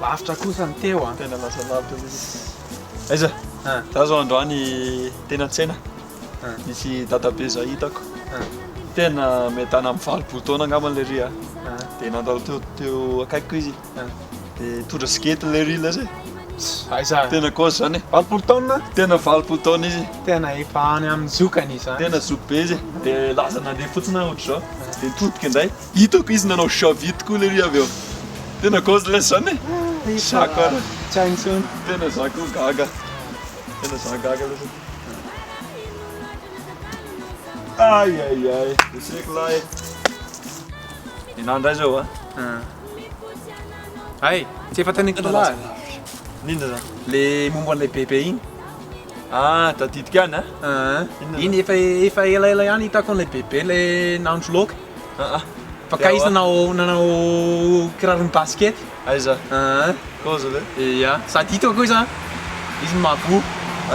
Lavitra kosa ny teo an. Tena lasa lavitra mihitsy. Aiza? Za zao androany teny an-tsena. Misy dadabe zay hitako tena miadana amin'ny valopolo taona angamba ilay ry a dia nandalo teo teo akaikiko izy dia tondra sigety ilay ry ilay zay Aiza? Tena gauche zany. Valopolo taona? Tena valopolo taona izy. Tena efa any amin'ny zokany izany. Tena zoky be izy. Dia laza nandeha fotsiny aho ohatr'izao. Dia nitodika indray. Hitako izy nanao javity koa lery avy eo. Tena gauche ilay zany e. Zako ara. Tsy haintsony. Tena zako gaga. Tena zah gaga ilay zany. Ay ay ay, eseko lahy e. Ianao indray izao a. Hay, tsy efa tany an-kilo lahy. Inona izany? Le momba an'ilay bebe iny. Ah, tadidiko ihany a. Ah, iny efa efa elaela ihany hitako an'ilay bebe le nahandro laoka. Ah ah. Fa kay izy nanao nanao kiraron'ny basket. Aiza? Aa kaozy ve? Eia sady hitako koa iza izy no mahaboho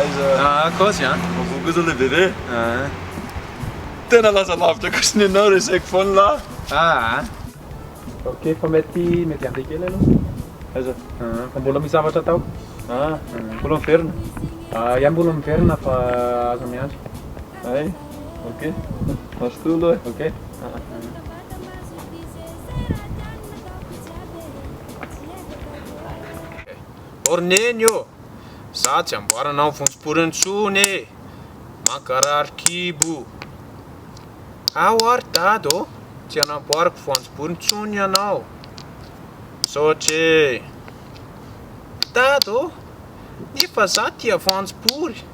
Aiza? Aa kaozy an! Mahaboho koa zao le bebe e! Aa. Tena lasa lavitra kosa ny anao reseko foana lah! Aa. Ok fa mety mety andeha kely aloha. Aiza? Aa fa mbola misy zavatra atao. Aa mbola miverina? Aa ia mbola miverina fa aza miandry. Ay ok mazotoa aloha e! Ok aa. Orneny ô! Za tsy amboarana amin'ny vonjim-pory intsony e! Mankarary kibo! Ao aho ry dada ô! Tsy anamboariko voanjobory intsony ianao! Misaotra e! Dada ô! Nefa za tia voanjobory!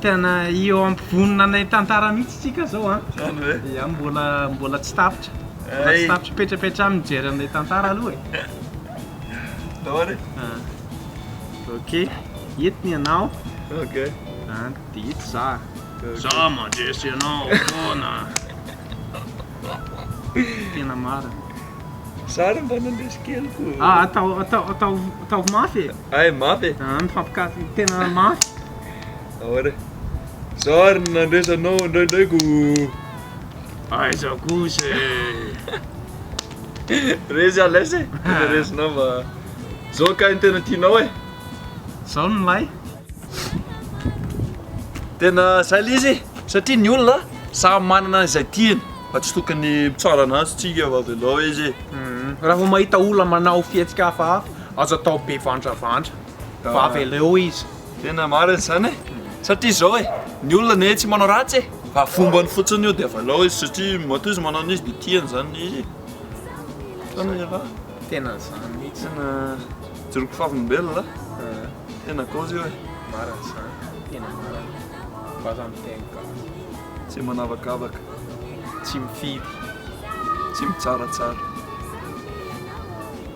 Tena eo ampovoany nanay tantara mihitsy tsika zao an. Zany ve? Ya mbola mbola tsy tapitra. Mbola tsy tapitra petrapetra aminy mijery an'ilay tantara aloha e. Daholo e. Ah. Ok. Eto ny anao. Ok. Ah, dia eto za. Za mandresy anao foana. Tena marina. Za ary mba nandresy kely koa. Ah, atao atao atao ataovy mafy e. Hay mafy e! An mifampikafy tena mafy. Ahoana e? Zao ary no nandresanao indraindray ko. Aiza kosa e! Resy à l'aise e! Tena resinao mba. Zao kay no tena tianao e! Zao no milay. Tena zay le izy satria ny olona samy manana izay tiany fa tsy tokony mitsara ananjy tsika fa avelao izy e! Raha vao mahita olona manao fihetsika hafahafa Aza atao be vandravandra fa avy leo izy. Tena marina izany e, satria izao e, ny olona anie tsy manao ratsy e, fa fombany fotsiny io dia avy leo izy satria matoa izy manao an'izy dia tiany izany ilay izy e. Fa ny lehilahy. Tena izany mihitsy. Tena joron'ny fivavolombelona a. Tena cause io e. Marina izany, tena marina. Vaza amin'ny teny gasy. Tsy manavakavaka. Tsy mifidy. Tsy mitsaratsara.